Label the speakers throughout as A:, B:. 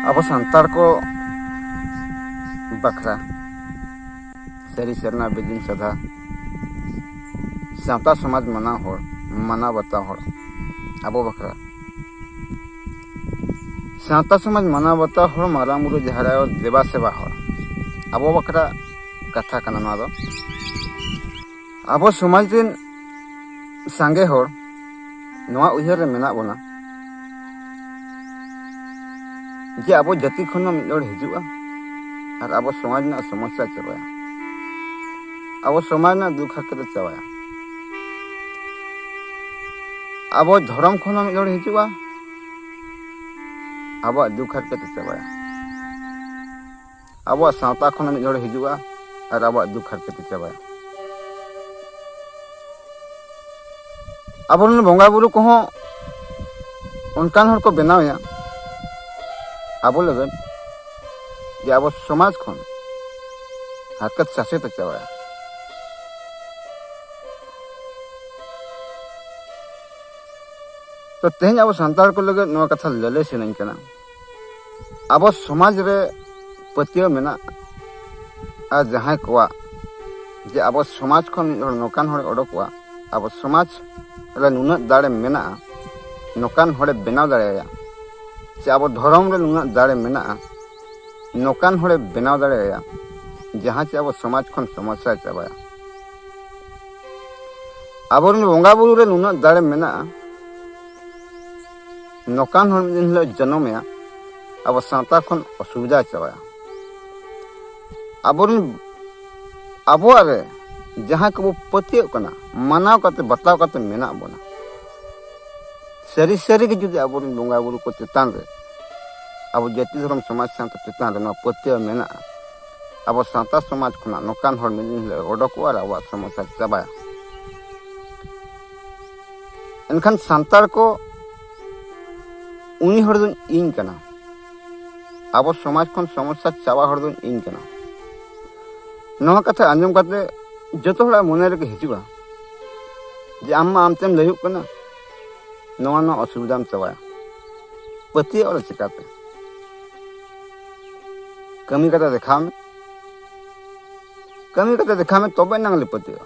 A: ᱟᱵᱚ ᱥᱟᱱᱛᱟᱲ ᱠᱚ ᱵᱟᱠᱷᱨᱟ ᱥᱟᱹᱨᱤ ᱥᱮᱨᱱᱟ ᱵᱤᱫᱤᱱ ᱥᱟᱫᱷᱟ ᱥᱟᱶᱛᱟ ᱥᱚᱢᱟᱡᱽ ᱢᱟᱱᱟᱣ ᱦᱚᱲ ᱢᱟᱱᱟᱣ ᱵᱟᱛᱟᱣ ᱦᱚᱲ ᱟᱵᱚ ᱵᱟᱠᱷᱨᱟ ᱥᱟᱶᱛᱟ ᱥᱚᱢᱟᱡᱽ ᱢᱟᱱᱟᱣ ᱵᱟᱛᱟᱣ ᱦᱚᱲ ᱢᱟᱨᱟᱝ ᱵᱩᱨᱩ ᱡᱟᱦᱮᱨ ᱟᱭᱳ ᱫᱮᱵᱟ ᱥᱮᱵᱟ ᱦᱚᱲ ᱟᱵᱚ ᱵᱟᱠᱷᱨᱟ ᱠᱟᱛᱷᱟ ᱠᱟᱱᱟ ᱱᱚᱣᱟ ᱫᱚ ᱟᱵᱚ ᱥᱚᱢᱟᱡᱽ ᱨᱮᱱ ᱥᱟᱸᱜᱮ ᱦᱚᱲ ᱱᱚᱣᱟ ᱩᱭᱦᱟᱹᱨ ᱨᱮ ᱢᱮᱱᱟᱜ ᱵᱚᱱᱟ ᱡᱮ ᱟᱵᱚ ᱡᱟᱹᱛᱤ ᱠᱷᱚᱱ ᱦᱚᱸ ᱢᱤᱫ ᱦᱚᱲ ᱦᱤᱡᱩᱜᱼᱟ ᱟᱨ ᱟᱵᱚ ᱥᱚᱢᱟᱡᱽ ᱨᱮᱱᱟᱜ ᱥᱚᱢᱚᱥᱥᱟ ᱪᱟᱵᱟᱭᱟ ᱟᱵᱚ ᱥᱚᱢᱟᱡᱽ ᱨᱮᱱᱟᱜ ᱫᱩᱠ ᱦᱟᱨᱠᱮᱛ ᱪᱟᱵᱟᱭᱟ ᱟᱵᱚ ᱫᱷᱚᱨᱚᱢ ᱠᱷᱚᱱ ᱦᱚᱸ ᱢᱤᱫ ᱦᱚᱲ ᱦᱤᱡᱩᱜᱼᱟ ᱟᱵᱚᱣᱟᱜ ᱫᱩᱠ ᱦᱟᱨᱠᱮᱛ ᱪᱟᱵᱟᱭᱟ ᱟᱵᱚᱣᱟᱜ ᱥᱟᱶᱛᱟ ᱠᱷᱚᱱ ᱢᱤᱫ ᱦᱚᱲ ᱦᱤᱡᱩᱜᱼᱟ ᱟᱨ ᱟᱵᱚᱣᱟᱜ ᱫᱩᱠ ᱦᱟᱨᱠᱮᱛ ᱪᱟᱵᱟᱭᱟ ᱟᱵᱚᱨᱮᱱ ᱵᱚᱸᱜᱟ ᱵᱩᱨᱩ ᱠᱚᱦᱚᱸ ᱚᱱᱠᱟᱱ ᱦᱚᱲ ᱠᱚ ᱵᱮᱱᱟᱣᱮᱭᱟ ᱟᱵᱚ ᱞᱟᱹᱜᱤᱫ ᱡᱮ ᱟᱵᱚ ᱥᱚᱢᱟᱡᱽ ᱠᱷᱚᱱ ᱦᱟᱨᱠᱮᱛ ᱥᱟᱥᱮᱛ ᱪᱟᱵᱟᱭᱟ ᱛᱚ ᱛᱮᱦᱮᱧ ᱟᱵᱚ ᱥᱟᱱᱛᱟᱲ ᱠᱚ ᱞᱟᱹᱜᱤᱫ ᱱᱚᱣᱟ ᱠᱟᱛᱷᱟ ᱞᱟᱹᱞᱟᱹᱭ ᱥᱟᱱᱟᱧ ᱠᱟᱱᱟ ᱟᱵᱚ ᱥᱚᱢᱟᱡᱽ ᱨᱮ ᱯᱟᱹᱛᱭᱟᱹᱣ ᱢᱮᱱᱟᱜ ᱟᱨ ᱡᱟᱦᱟᱸᱭ ᱠᱚᱣᱟᱜ ᱡᱮ ᱟᱵᱚ ᱥᱚᱢᱟᱡᱽ ᱠᱷᱚᱱ ᱢᱤᱫ ᱦᱚᱲ ᱱᱚᱝᱠᱟᱱ ᱦᱚᱲᱮ ᱚᱰᱚᱠᱚᱜᱼᱟ ᱟᱵᱚ ᱥᱚᱢᱟᱡᱽ ᱨᱮ ᱱᱩᱱᱟᱹᱜ ᱫᱟᱲᱮ ᱢᱮᱱᱟᱜᱼᱟ ᱱᱚᱝᱠᱟᱱ ᱦᱚᱲᱮ ᱵᱮᱱᱟᱣ ᱫᱟᱲᱮᱭᱟᱭᱟ ᱥᱮ ᱟᱵᱚ ᱫᱷᱚᱨᱚᱢ ᱨᱮ ᱱᱩᱱᱟᱹᱜ ᱫᱟᱲᱮ ᱢᱮᱱᱟᱜᱼᱟ ᱱᱚᱝᱠᱟᱱ ᱦᱚᱲᱮ ᱵᱮᱱᱟᱣ ᱫᱟᱲᱮᱭᱟᱭᱟ ᱡᱟᱦᱟᱸ ᱪᱮ ᱟᱵᱚ ᱥᱚᱢᱟᱡᱽ ᱠᱷᱚᱱ ᱥᱚᱢᱚᱥᱥᱟᱭ ᱪᱟᱵᱟᱭᱟ ᱟᱵᱚᱨᱮᱱ ᱵᱚᱸᱜᱟ ᱵᱩᱨᱩ ᱨᱮ ᱱᱩᱱᱟᱹᱜ ᱫᱟᱲᱮ ᱢᱮᱱᱟᱜᱼᱟ ᱱᱚᱝᱠᱟᱱ ᱦᱚᱲ ᱢᱤᱫ ᱫᱤᱱ ᱦᱤᱞᱳᱜ ᱡᱚᱱᱚᱢᱮᱭᱟ ᱟᱵᱚ ᱥᱟᱶᱛᱟ ᱠᱷᱚᱱ ᱚᱥᱩᱵᱤᱫᱷᱟ ᱪᱟᱵᱟᱭᱟ ᱟᱵᱚᱨᱮᱱ ᱟᱵᱚᱣᱟᱜ ᱨᱮ ᱡᱟᱦᱟᱸ ᱠᱚᱵᱚ ᱯᱟᱹᱛᱭᱟᱹᱜ ᱠᱟᱱᱟ ᱢᱟᱱᱟᱣ ᱠᱟᱛᱮ ᱵᱟᱛᱟᱣ ᱠᱟᱛᱮ ᱢᱮᱱᱟᱜ ᱵᱚᱱᱟ ᱥᱟᱹᱨᱤ ᱥᱟᱹᱨᱤ ᱜᱮ ᱡᱩᱫᱤ ᱟᱵᱚᱨᱮᱱ ᱵᱚᱸᱜᱟ ᱵᱩᱨᱩ ᱠᱚ ᱪᱮᱛᱟᱱ ᱨᱮ ᱟᱵᱚ ᱡᱟᱹᱛᱤ ᱫᱷᱚᱨᱚᱢ ᱥᱚᱢᱟᱡᱽ ᱥᱟᱶᱛᱟ ᱪᱮᱛᱟᱱ ᱨᱮ ᱱᱚᱣᱟ ᱯᱟᱹᱛᱭᱟᱹᱣ ᱢᱮᱱᱟᱜᱼᱟ ᱟᱵᱚ ᱥᱟᱶᱛᱟ ᱥᱚᱢᱟᱡᱽ ᱠᱷᱚᱱᱟᱜ ᱱᱚᱝᱠᱟᱱ ᱦᱚᱲ ᱢᱤᱫ ᱫᱤᱱ ᱦᱤᱞᱳᱜ ᱚᱰᱚᱠᱚᱜᱼᱟ ᱟᱨ ᱟᱵᱚᱣᱟᱜ ᱥᱚᱢᱚᱥᱥᱟ ᱪᱟᱵᱟᱭᱟ ᱮᱱᱠᱷᱟᱱ ᱥᱟᱱᱛᱟᱲ ᱠᱚ ᱩᱱᱤ ᱦᱚᱲ ᱫᱚᱧ ᱤᱧ ᱠᱟᱱᱟ ᱟᱵᱚ ᱥᱚᱢᱟᱡᱽ ᱠᱷᱚᱱ ᱥᱚᱢᱚᱥᱥᱟ ᱪᱟᱵᱟ ᱦᱚᱲ ᱫᱚᱧ ᱤᱧ ᱠᱟᱱᱟ ᱱᱚᱣᱟ ᱠᱟᱛᱷᱟ ᱟᱸᱡᱚᱢ ᱠᱟᱛᱮ ᱡᱚᱛᱚ ᱦᱚᱲᱟᱜ ᱢᱚᱱᱮ ᱨᱮᱜᱮ ᱦᱤᱡᱩᱜᱼᱟ ᱡᱮ ᱟᱢ ᱢᱟ ᱟᱢᱛᱮᱢ ᱞᱟᱹᱭᱚᱜ ᱠᱟᱱᱟ ᱱᱚᱣᱟ ᱱᱚᱣᱟ ᱚᱥᱩᱵᱤᱫᱷᱟᱢ ᱪᱟᱵᱟᱭᱟ ᱯᱟᱹᱛᱭᱟᱹᱣ ᱨᱮ ᱪᱤᱠᱟᱛᱮ ᱠᱟᱹᱢᱤ ᱠᱟᱛᱮ ᱫᱮᱠᱷᱟᱣ ᱢᱮ ᱠᱟᱹᱢᱤ ᱠᱟᱛᱮ ᱫᱮᱠᱷᱟᱣ ᱢᱮ ᱛᱚᱵᱮ ᱮᱱᱟᱝ ᱞᱮ ᱯᱟᱹᱛᱭᱟᱹᱜᱼᱟ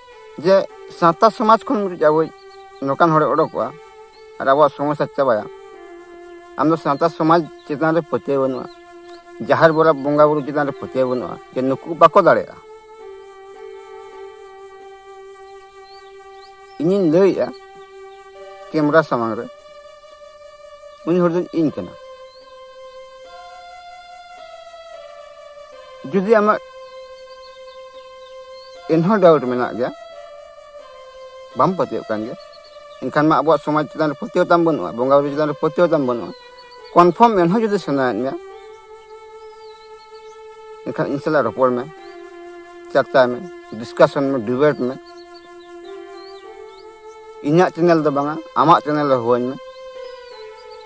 A: ᱡᱮ ᱥᱟᱶᱛᱟ ᱥᱚᱢᱟᱡᱽ ᱠᱷᱚᱱ ᱢᱤᱫᱴᱤᱡ ᱟᱵᱚᱭ ᱱᱚᱝᱠᱟᱱ ᱦᱚᱲᱮ ᱚᱰᱚᱠᱚᱜᱼᱟ ᱟᱨ ᱟᱵᱚᱣᱟᱜ ᱥᱚᱢᱚᱥᱥᱟ ᱪᱟᱵᱟᱭᱟ ᱟᱢ ᱫᱚ ᱥᱟᱶᱛᱟ ᱥᱚᱢᱟᱡᱽ ᱪᱮᱛᱟᱱ ᱨᱮ ᱯᱟᱹᱛᱭᱟᱹᱣ ᱵᱟᱹᱱᱩᱜᱼᱟ ᱡᱟᱦᱮᱨ ᱵᱚᱨᱟ ᱵᱚᱸᱜᱟ ᱵᱩᱨᱩ ᱪᱮᱛᱟᱱ ᱨᱮ ᱯᱟᱹᱛᱭᱟᱹᱣ ᱵᱟᱹᱱᱩᱜᱼᱟ ᱡᱮ ᱱᱩᱠᱩ ᱵᱟᱠᱚ ᱫᱟᱲᱮᱭᱟᱜᱼᱟ ᱤᱧᱤᱧ ᱞᱟᱹᱭᱮᱫᱼᱟ ᱠᱮᱢᱨᱟ ᱥᱟᱢᱟᱝ ᱨᱮ ᱩᱱᱤ ᱦᱚᱲ ᱫᱚ ᱤᱧ ᱠᱟᱱᱟ ᱡᱩᱫᱤ ᱟᱢᱟᱜ ᱮᱱᱦᱚᱸ ᱰᱟᱣᱩᱴ ᱢᱮᱱᱟᱜ ᱜᱮᱭᱟ ᱵᱟᱢ ᱯᱟᱹᱛᱭᱟᱹᱜ ᱠᱟᱱ ᱜᱮᱭᱟ ᱮᱱᱠᱷᱟᱱ ᱢᱟ ᱟᱵᱚᱣᱟᱜ ᱥᱚᱢᱟᱡᱽ ᱪᱮᱛᱟᱱ ᱨᱮ ᱯᱟᱹᱛᱭᱟᱹᱣ ᱛᱟᱢ ᱵᱟᱹᱱᱩᱜᱼᱟ ᱵᱚᱸᱜᱟ ᱵᱩᱨᱩ ᱪᱮᱛᱟᱱ ᱨᱮ ᱯᱟᱹᱛᱭᱟᱹᱣ ᱛᱟᱢ ᱵᱟᱹᱱᱩᱜᱼᱟ ᱠᱚᱱᱯᱷᱟᱨᱢ ᱮᱱᱦᱚᱸ ᱡᱩᱫᱤ ᱥᱟᱱᱟᱭᱮᱫ ᱢᱮᱭᱟ ᱮᱱᱠᱷᱟᱱ ᱤᱧ ᱥᱟᱞᱟᱜ ᱨᱚᱯᱚᱲ ᱢᱮ ᱪᱟᱨᱪᱟᱭ ᱢᱮ ᱰᱤᱥᱠᱟᱥᱚᱱ ᱢᱮ ᱰᱤᱵᱮᱴ ᱢᱮ ᱤᱧᱟᱹᱜ ᱪᱮᱱᱮᱞ ᱫᱚ ᱵᱟᱝᱟ ᱟᱢᱟᱜ ᱪᱮᱱᱮᱞ ᱨᱮ ᱦᱩᱣᱟᱹᱧ ᱢᱮ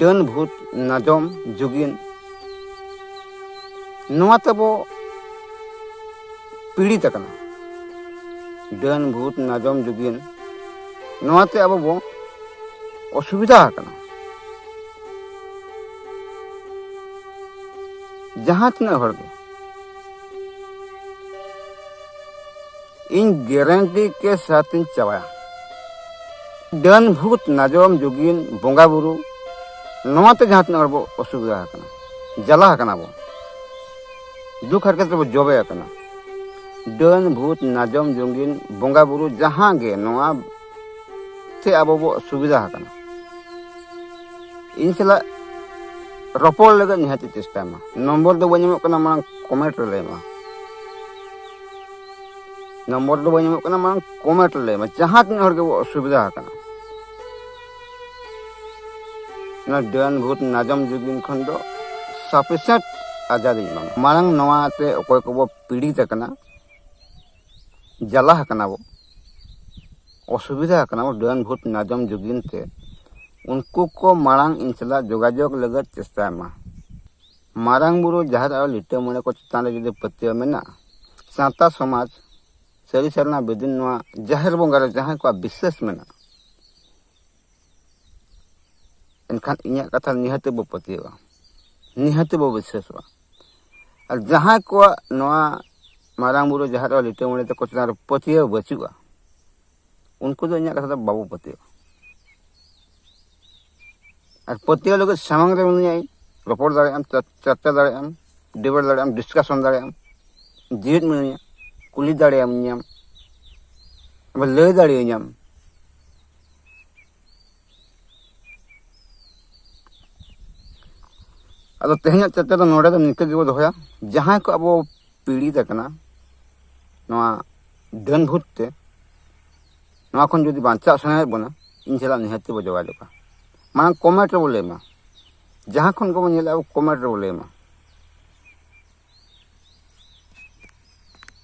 A: ᱰᱟᱹᱱ ᱵᱷᱩᱛ ᱱᱟᱡᱚᱢ ᱡᱩᱜᱤᱱ ᱱᱚᱣᱟ ᱛᱮᱵᱚ ᱯᱤᱲᱤᱛ ᱟᱠᱟᱱᱟ ᱰᱟᱹᱱ ᱵᱷᱩᱛ ᱱᱟᱡᱚᱢ ᱡᱩᱜᱤᱱ ᱱᱚᱣᱟᱛᱮ ᱟᱵᱚ ᱵᱚ ᱚᱥᱩᱵᱤᱫᱷᱟ ᱟᱠᱟᱱᱟ ᱡᱟᱦᱟᱸ ᱛᱤᱱᱟᱹᱜ ᱦᱚᱲ ᱜᱮ ᱤᱧ ᱜᱮᱨᱮᱱᱴᱤ ᱠᱮ ᱥᱟᱛᱤᱧ ᱪᱟᱵᱟᱭᱟ ᱰᱟᱹᱱ ᱵᱷᱩᱛ ᱱᱟᱡᱚᱢ ᱡᱩᱜᱤᱱ ᱵᱚᱸᱜᱟ ᱵᱩᱨᱩ ᱱᱚᱣᱟᱛᱮ ᱡᱟᱦᱟᱸ ᱛᱤᱱᱟᱹᱜ ᱦᱚᱲ ᱵᱚ ᱚᱥᱩᱵᱤᱫᱷᱟ ᱟᱠᱟᱱᱟ ᱡᱟᱞᱟ ᱟᱠᱟᱱᱟ ᱵᱚ ᱫᱩᱠ ᱦᱟᱨᱠᱮᱛ ᱨᱮᱵᱚ ᱡᱚᱵᱮ ᱟᱠᱟᱱᱟ ᱰᱟᱹᱱ ᱵᱷᱩᱛ ᱱᱟᱡᱚᱢ ᱡᱩᱜᱤᱱ ᱵᱚᱸᱜᱟ ᱵᱩᱨᱩ ᱡᱟᱦᱟᱸ ᱜᱮ ᱱᱚᱣᱟ ᱛᱮ ᱟᱵᱚ ᱵᱚ ᱚᱥᱩᱵᱤᱫᱷᱟ ᱟᱠᱟᱱᱟ ᱤᱧ ᱥᱟᱞᱟᱜ ᱨᱚᱯᱚᱲ ᱞᱟᱹᱜᱤᱫ ᱱᱤᱦᱟᱹᱛ ᱪᱮᱥᱴᱟᱭ ᱢᱟ ᱱᱚᱢᱵᱚᱨ ᱫᱚ ᱵᱟᱹᱧ ᱮᱢᱚᱜ ᱠᱟᱱᱟ ᱢᱟᱲᱟᱝ ᱠᱚᱢᱮᱱᱴ ᱨᱮ ᱞᱟᱹᱭ ᱢᱟ ᱱᱚᱢᱵᱚᱨ ᱫᱚ ᱵᱟᱹᱧ ᱮᱢᱚᱜ ᱠᱟᱱᱟ ᱢᱟᱲᱟᱝ ᱠᱚᱢᱮᱱᱴ ᱞᱟᱹᱭ ᱢᱮ ᱡᱟᱦᱟᱸ ᱛᱤᱱᱟᱹᱜ ᱦᱚᱲ ᱜᱮᱵᱚ ᱚᱥᱩᱵᱤᱫᱟ ᱟᱠᱟᱱᱟ ᱚᱱᱟ ᱰᱟᱹᱱ ᱵᱷᱩᱛ ᱱᱟᱡᱚᱢ ᱡᱩᱜᱤᱱ ᱠᱷᱚᱱ ᱫᱚ ᱥᱟᱯᱷᱤᱥᱮᱱᱴ ᱟᱡᱟᱫᱤᱧ ᱮᱢᱟᱢᱟ ᱢᱟᱲᱟᱝ ᱱᱚᱣᱟᱛᱮ ᱚᱠᱚᱭ ᱠᱚᱵᱚ ᱯᱤᱲᱤᱛ ᱟᱠᱟᱱᱟ ᱡᱟᱞᱟ ᱟᱠᱟᱱᱟ ᱵᱚ ᱚᱥᱩᱵᱤᱫᱟ ᱟᱠᱟᱱᱟ ᱵᱚ ᱰᱟᱹᱱ ᱵᱷᱩᱛ ᱱᱟᱡᱚᱢ ᱡᱩᱜᱤᱱ ᱛᱮ ᱩᱱᱠᱩ ᱠᱚ ᱢᱟᱲᱟᱝ ᱤᱧ ᱥᱟᱞᱟᱜ ᱡᱳᱜᱟᱡᱳᱜᱽ ᱞᱟᱹᱜᱤᱫ ᱪᱮᱥᱴᱟᱭ ᱢᱟ ᱢᱟᱨᱟᱝ ᱵᱩᱨᱩ ᱡᱟᱦᱮᱨ ᱟᱭᱳ ᱞᱤᱴᱟᱹ ᱢᱚᱬᱮ ᱠᱚ ᱪᱮᱛᱟᱱ ᱨᱮ ᱡᱩᱫᱤ ᱯᱟᱹᱛᱭᱟᱹᱣ ᱢᱮᱱᱟᱜᱼᱟ ᱥᱟᱶᱛᱟ ᱥᱚᱢᱟᱡᱽ ᱥᱟᱹᱨᱤ ᱥᱟᱨᱱᱟ ᱵᱤᱫᱤᱱ ᱱᱚᱣᱟ ᱡᱟᱦᱮᱨ ᱵᱚᱸᱜᱟ ᱨᱮ ᱡᱟᱦᱟᱸᱭ ᱠᱚᱣᱟᱜ ᱵᱤᱥᱥᱟᱹᱥ ᱢᱮᱱᱟᱜᱼᱟ ᱮᱱᱠᱷᱟᱱ ᱤᱧᱟᱹᱜ ᱠᱟᱛᱷᱟ ᱱᱤᱦᱟᱹᱛᱤ ᱵᱚ ᱯᱟᱹᱛᱭᱟᱹᱣᱟ ᱱᱤᱦᱟᱹᱛᱤ ᱵᱚ ᱵᱤᱥᱥᱟᱹᱥᱚᱜᱼᱟ ᱟᱨ ᱡᱟᱦᱟᱸᱭ ᱠᱚᱣᱟᱜ ᱱᱚᱣᱟ ᱢᱟᱨᱟᱝ ᱵᱩᱨᱩ ᱡᱟᱦᱮᱨ ᱟᱭᱳ ᱞᱤᱴᱟᱹ ᱢᱚᱬᱮ ᱛᱟᱠᱚ ᱪᱮᱛᱟᱱ ᱨᱮ ᱯᱟᱹᱛᱭᱟᱹᱣ ᱵᱟᱹᱪᱩᱜᱼᱟ ᱩᱱᱠᱩ ᱫᱚ ᱤᱧᱟᱹᱜ ᱠᱟᱛᱷᱟ ᱫᱚ ᱵᱟᱵᱚ ᱯᱟᱹᱛᱭᱟᱹᱣᱟ ᱟᱨ ᱯᱟᱹᱛᱭᱟᱹᱣ ᱞᱟᱹᱜᱤᱫ ᱥᱟᱢᱟᱝ ᱨᱮ ᱢᱮᱱᱟᱭᱟᱭ ᱨᱚᱯᱚᱲ ᱫᱟᱲᱮᱭᱟᱜ ᱟᱢ ᱪᱟᱨᱪᱟ ᱫᱟᱲᱮᱭᱟᱜ ᱟᱢ ᱰᱤᱵᱮᱴ ᱫᱟᱲᱮᱭᱟᱜ ᱟᱢ ᱰᱤᱥᱠᱟᱥᱚᱱ ᱫᱟᱲᱮᱭᱟᱜ ᱟᱢ ᱡᱮᱣᱮᱫ ᱢᱮᱱᱟᱭᱟ ᱠᱩᱞᱤ ᱫᱟᱲᱮᱭᱟᱢ ᱧᱟᱢ ᱟᱵᱟᱨ ᱞᱟᱹᱭ ᱫᱟᱲᱮᱭᱟᱹᱧᱟᱢ ᱟᱫᱚ ᱛᱮᱦᱮᱧᱟᱜ ᱪᱟᱨᱪᱟ ᱫᱚ ᱱᱚᱰᱮ ᱫᱚ ᱱᱤᱝᱠᱟᱹ ᱜᱮᱵᱚ ᱫᱚᱦᱚᱭᱟ ᱡᱟᱦᱟᱸᱭ ᱠᱚ ᱟᱵᱚ ᱯᱤᱲᱤᱛ ᱟᱠᱟᱱᱟ ᱱᱚᱣᱟ ᱰᱟᱹᱱ ᱵᱷᱩᱛ ᱛᱮ ᱱᱚᱣᱟ ᱠᱷᱚᱱ ᱡᱩᱫᱤ ᱵᱟᱧᱪᱟᱜ ᱥᱟᱱᱟᱭᱮᱫ ᱵᱚᱱᱟ ᱤᱧ ᱥᱟᱞᱟᱜ ᱱᱤᱦᱟᱹᱛ ᱛᱮᱵᱚ ᱡᱳᱜᱟᱡᱳᱜᱟ ᱢᱟᱲᱟᱝ ᱠᱚᱢᱮᱱᱴ ᱨᱮᱵᱚ ᱞᱟᱹᱭ ᱢᱟ ᱡᱟᱦᱟᱸ ᱠᱷᱚᱱ ᱜᱮᱵᱚ ᱧᱮᱞᱮᱫᱼᱟ ᱠᱚᱢᱮᱱᱴ ᱨᱮᱵᱚ ᱞᱟᱹᱭ ᱢᱟ